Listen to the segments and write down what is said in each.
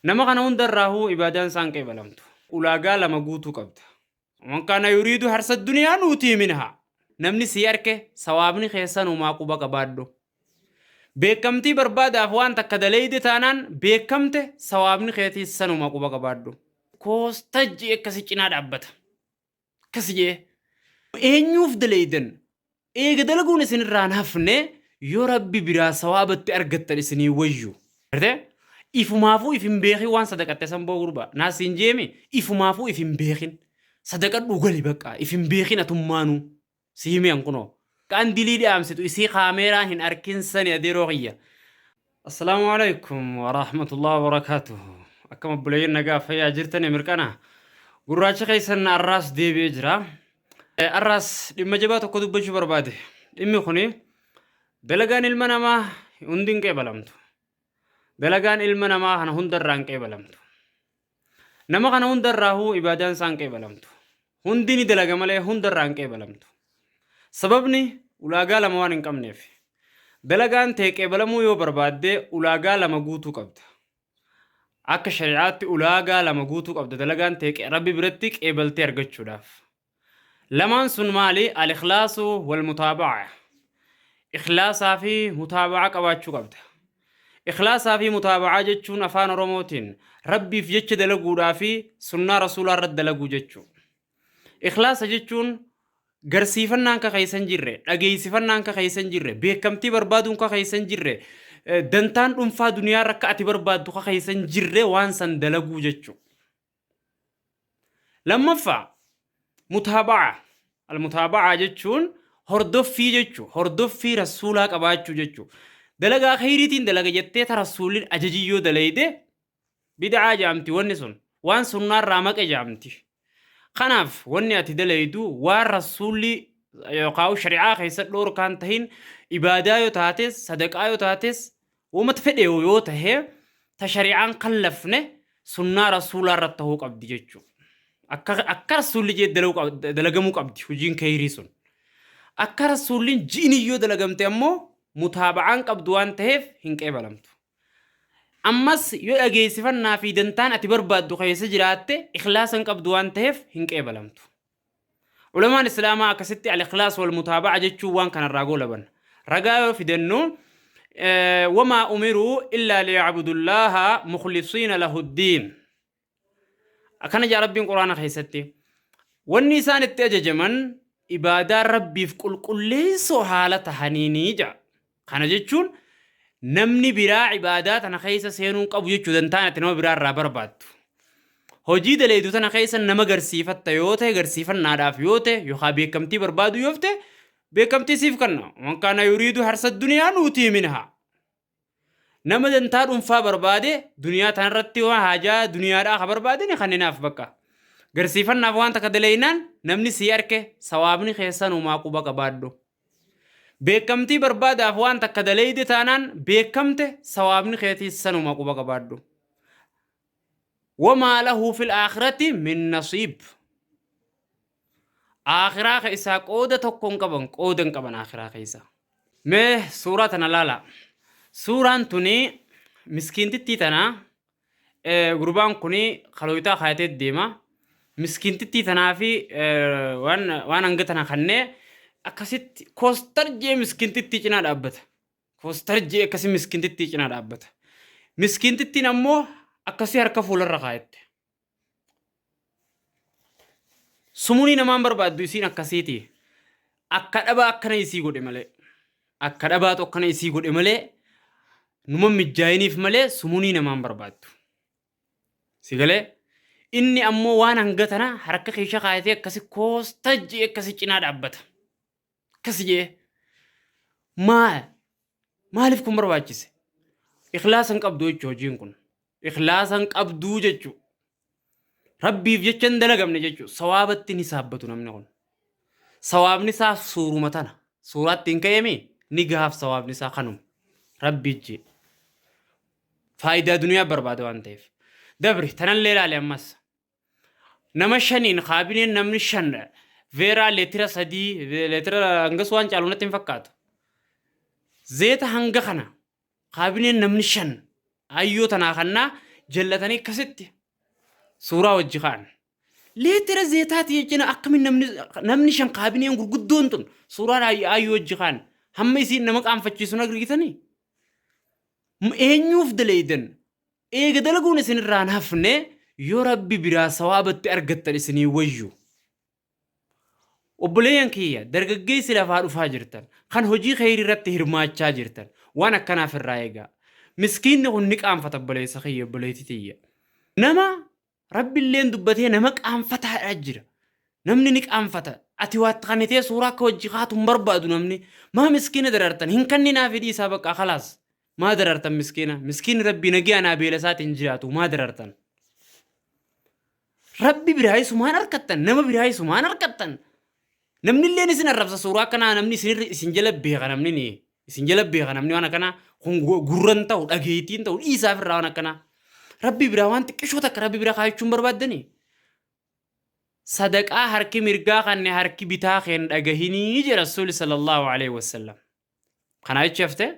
Nama kana hunda irraahuu ibaadaan isaan qeebalamtu. Ulaagaa lama guutuu qabda. Man kaana yuriidu harsa duniyaa nuutii minhaa. Namni sii arke sawaabni keessanumaa quba qabaadhu. Beekamtii barbaadaaf waan takka daleeyde taanaan beekamte sawaabni keetiis sanuma quba qabaadhu. Koostaj'i akka si cinaa dhaabbata. Akkas jee eenyuuf dalaydan eega dalaguun isin irraan hafne yoo rabbi biraa sawaabatti argattan isinii wayyu. Gartee? Ifumaafuu if hin beekin waan sadaqatte san boo gurbaa. Naa siin jeemi ifumaafuu if hin beekin. Sadaqadhuu gali baqqaa if hin beekin atummaanuu. Si hime an kunoo. Qandilii dhaamsitu isii kaameeraa hin arkin sani adeeroo kiyya. Assalaamu alaikum warahmatullahi wabarakatuh Akkam obboleeyyan nagaa fayyaa jirtani mirqana gurraacha keessan arraas deebi'ee jira arraas dhimma jabaa tokko dubbachuu barbaade dhimmi kuni dalagaan ilma namaa hundi hin qeebalamtu Dalagaan ilma namaa kana hunda irraa hin qeebalamtu. Nama kana hunda irraahuu ibaadaan isaa hin qeebalamtu. Hundi ni dalaga malee hunda irraa hin qeebalamtu. Sababni ulaagaa lama waan hin qabneef. Dalagaan tee qeebalamuu yoo barbaadde ulaagaa lama guutuu qabda. Akka shari'aatti ulaagaa lama guutuu qabda dalagaan tee qe- rabbi biratti qeebaltee argachuudhaaf. Lamaan sun maali? Al-ikhlaasu wal-mutaaba'a. Ikhlaasaa fi mutaaba'a qabaachuu qabda. Ikhlaasaa fi mutaaba'aa jechuun afaan Oromootiin Rabbiif jecha dalaguudhaa fi sunnaa Rasuulaa irratti dalaguu jechuu. Ikhlaasa jechuun garsiifannaan ka keessa hin jirre, dhageessifannaan ka keessa hin jirre, beekamtii barbaaduun ka keessa hin jirre, eh, dantaan dhuunfaa duniyaa irra akka ati barbaaddu ka keessa hin jirre waan san dalaguu jechuu. Lammaffaa mutaaba'aa. Almutaaba'aa jechuun hordoffii jechu hordoffii rasuulaa qabaachuu jechu dalagaa khayriitiin dalaga jettee ta rasuulin ajajii yoo dalayde bid'aa jaamti wanni sun waan sunnaarraa maqe jaamti kanaaf wanni ati dalaydu waan rasuulli yookaan shari'aa keessa dhoorkaan tahin ibaadaa yoo taates sadaqaa yoo taates Womata fedheyu yoo tahe ta shari'aan kallafne sunnaa rasuulaa irratti tahuu qabdi jechuu. Akka akka rasuulli jee dalagu qab- da- dalagamuu qabdi hojiin keeyrii sun. Akka rasuulliin ji'iniin yoo dalagamte ammoo mutaaba'aan qabdu waan taheef hin qeebalamtu. Ammas yoo dhageessifannaa fi dantaan ati barbaaddu keessa jiraatte ikhlaasa hin qabdu waan taheef hin qeebalamtu. Ulamaan Islaamaa akkasitti Al-Ikhlaas wal mutaaba'a jechuun waan kanarraa goolaban. Ragaa yoo fidannu wamaa umiruu illaa liya'budullaaha mukhlisiina lahuddiin. Akkana jaa Rabbiin Quraana keessatti wanni isaan itti ajajaman ibaadaa Rabbiif qulqulleessoo haala tahaniinii jaa. Kana jechuun namni biraa ibaadaa tana keessa seenuu hin qabu jechuu dantaan ati nama biraa irraa barbaaddu. Hojii daleedu tana keessa nama garsiifatta yoo ta'e garsiifannaadhaaf yoo ta'e yookaan beekamtii barbaaduu yoo ta'e beekamtii siif kenna. Man kaana yuriidu harsa duniyaa nuutii minhaa. Nama dantaa dhuunfaa barbaade duniyaa tanarratti waan haajaa duniyaadhaa ka barbaadani kanninaaf bakka. Garsiifannaaf waan takka daleeynaan namni sii arke sawaabni keessan umaa quba qabaadhu. Beekkamtii barbaadaaf waan takka daleyde taanaan beekkamte sawaabni keetiis sanuma quba qabaadhu. Wamaa lahu fil aakhirati min nasiib. Aakhiraa keessaa qooda tokko hin qaban qooda hin qaban aakhiraa keessa. Mee suuraa tana laalaa. Suuraan tuni miskiintittii tana Gurbaan kun kalooytaa kaayatee deema. Miskiintittii tanaa fi waan hanga tana kannee akkasitti koostar jee miskiintittii cinaa dhaabbata. Koostar jee akkasii miskiintittii cinaa dhaabbata. Miskiintittiin ammoo akkasii harka fuularra kaayatte. Sumunii namaan barbaaddu isiin akkasiiti. Akka dhabaa akkana isii godhe malee. Akka dhabaatu akkana isii godhe malee numa mijjaayiniif malee sumunii namaan barbaaddu. Si galee? Inni ammoo waan hanga tana harka keesha kaayatee akkasi koostajji akkasi cinaa dhaabbata. Akkasi jee maal maaliif kun barbaachise? Ikhlaasa hin qabdu jechuu hojiin kun. Ikhlaasa hin qabduu jechuu. Rabbiif jecha hin dalagamne jechuu. Sawaabatti ni saabbatu namni kun. Sawaabni isaa suuruma tana. Suuraatti hin ka'eemi ni gahaaf sawaabni isaa kanuma. Rabbi jee. Faayidaa duniyaa barbaada waan ta'eef. Dabri tanallee ilaali ammas. Nama shaniin kaabineen namni shan veeraa leetira sadii leetira hangas waan caalu natti hin fakkaatu. Zeeta hanga kana kaabineen namni shan ayyoo tanaa kannaa jallatanii akkasitti suuraa wajji ka'an. Leetira zeetaati jechuun akkamiin namni namni shan kaabineen gurguddoon tun suuraan ay- ayyoo wajji ka'an hamma isiin nama qaanfachiisu hin argitanii? M- Eenyuuf daleeydan? Eega dalaguun isin irraa hin hafne yoo Rabbi biraa sawaaba itti argattan isinii wayyu. Obboleeyyan kiyya dargaggeessi lafaa dhufaa jirtan kan hojii kheyrii irratti hirmaachaa jirtan waan akkanaaf irraa eegaa. Miskiinni kun ni qaanfata obboleessa kiyya obboleetti tiyya. Nama Rabbilleen dubbatee nama qaanfataadhaa jira. Namni ni qaanfata. Ati waatti kannitee suuraa akka wajji kaatu hin barbaadu namni. Maa miskiina darartan hin kanninaa fidhii isaa baqqaa kalaas. Maa darartan miskiina. Miskiinni rabbii nagiyaa naa beela isaati hin jiraatu. Maa darartan. Rabbi biraa isumaan harkattan. Nama biraa isumaan harkattan. Namni illee isin arrabsa suuraa akkanaa namni isin irra isin jala beeka namni ni. Isin jala beeka namni waan akkanaa kun gurran ta'u dhageettiin ta'u dhiisaaf irraa waan akkanaa. Rabbi biraa waan xiqqishoo takka rabbi biraa kaayachuun barbaaddanii. Sadaqaa harki mirgaa kanne harki bitaa keen dhagahinii jedha Rasuulli sallallahu alaihi wasallam. Kanaa jechi haftee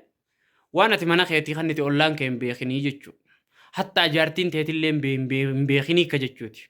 waan ati mana keetii kannite ollaan kee hin beekinii jechuudha. Hattaa jaartiin teetillee hin beekinii akka jechuuti.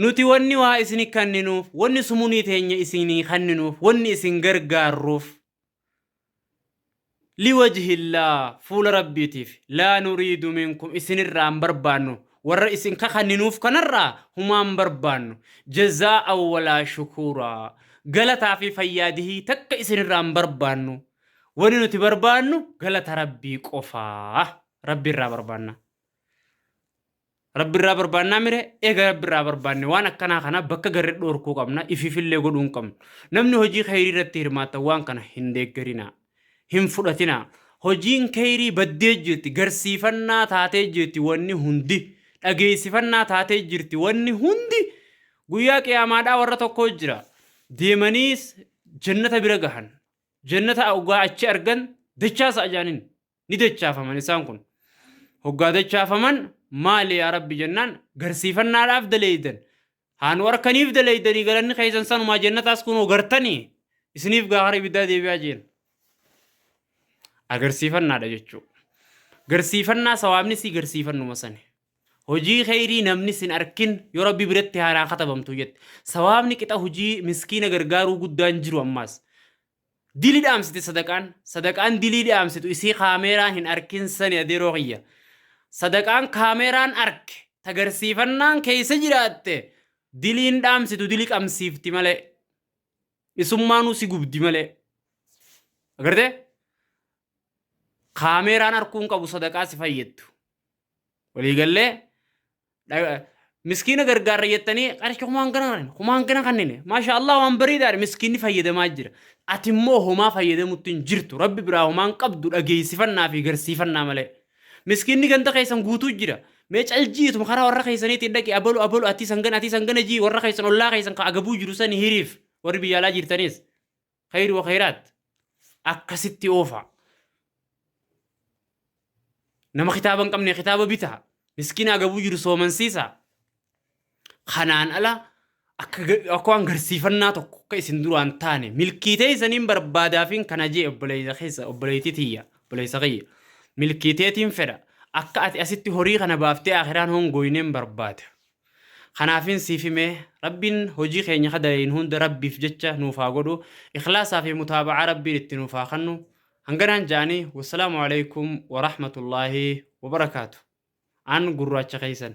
Nuti wanni waa isini kanninuuf, wanni sumunii teenya isinii kanninuuf, wanni isin gargaarruuf, liwajhillaa, fuula Rabbiitiif, laa nuriidu minkum, isinirraa hin barbaannu, warra isin kakanninuuf kanarraa humaa hin barbaannu, jazaa'an walaa shukuuraa, galataa fi fayyaadihii takka isinirraa hin barbaannu, wanni nuti barbaannu galata Rabbii qofaa, Rabbi irraa barbaanna. Rabbirraa barbaannaa mire eega rabbirraa barbaanne waan akkanaa kana bakka garre dhoorkuu qabna ifiifillee godhuu hin qabnu. Namni hojii kheyrii irratti hirmaattan waan kana hin deeggarinaa. Hin fudhatinaa. Hojiin kheyrii baddee jirti, garsiifannaa taatee jirti wanni hundi, dhageessifannaa taatee jirti wanni hundi. Guyyaa qiyaamaadhaa warra tokkoo jira. Deemaniis jannata bira gahan. Jannata ogaa achi argan dachaasa ajaaniin. Ni dachaafaman isaan kun. Hoggaa dachaafaman maali yaa Rabbi jennaan garsiifannaadhaaf daleeydan. Haa nu arkaniif daleeydanii galanni keessan sanumaa jannataas kunoo gartanii isiniif gaa hara ibiddaa deebi'aa jeen. Agarsiifannaadha jechuu. Garsiifannaa sawaabni si garsiifannuma sani. Hojii kheyrii namni sin arkin yoo Rabbi biratti haanaa katabamtu jette. Sawaabni qixa hojii miskiina gargaaruu guddaan jiru ammaas. Dili dhaamsiti sadaqaan sadaqaan dilii dhaamsitu isii kaameeraan hin arkin sani adeeroo kiyya sadaqaan kaameeraan arke tagarsiifannaan keessa jiraatte diliin dhaamsitu dili qamsiifti malee isummaanuu si gubdi malee agarte kaameeraan harkuu hin qabu sadaqaa si fayyaddu. Waliigallee dha- miskiina gargaarra jettanii qarshii kumaan gana kanneen kumaan gana kanneen maasha Allah waan bareedaadha miskiinni fayyadamaa jira. Ati immoo homaa fayyadamutti hin jirtu rabbi biraa homaan qabdu dhageessifannaa fi garsiifannaa malee. Miskiinni ganda keessan guutuu jira. Mee caljiitu karaa warra keessaniitiin dhaqi abalu abalu atii sangana atii sangana jii warra keessan ollaa keessan ka agabuu jiru sani hiriif warri biyya alaa jirtanis. Kayri wa kayraat akkasitti oofaa. Nama kitaaba hin qabne kitaaba bitaa. Miskiina agabuu jiru soomansiisaa. Kanaan ala akka ga- akka waan garsiifannaa tokko akka isin duraan taane milkii teessaniin barbaadaafiin kana jee obboleessa keessa obboleettii tiyya obboleessa kiyya milkii teetiin fedha akka ati asitti horii kana baaftee akiraan hongooyineen barbaada. Kanaafin siif hime Rabbiin hojii keenya ka dalaynu hunda Rabbiif jecha nuuf haa godhu ikhlaasaa fi mutaaba'aa Rabbiin itti nuuf haa kannu hanganaan ja'anii wassalaamu aleykum warahmatullaahi wabarakaatu an gurraacha keessan.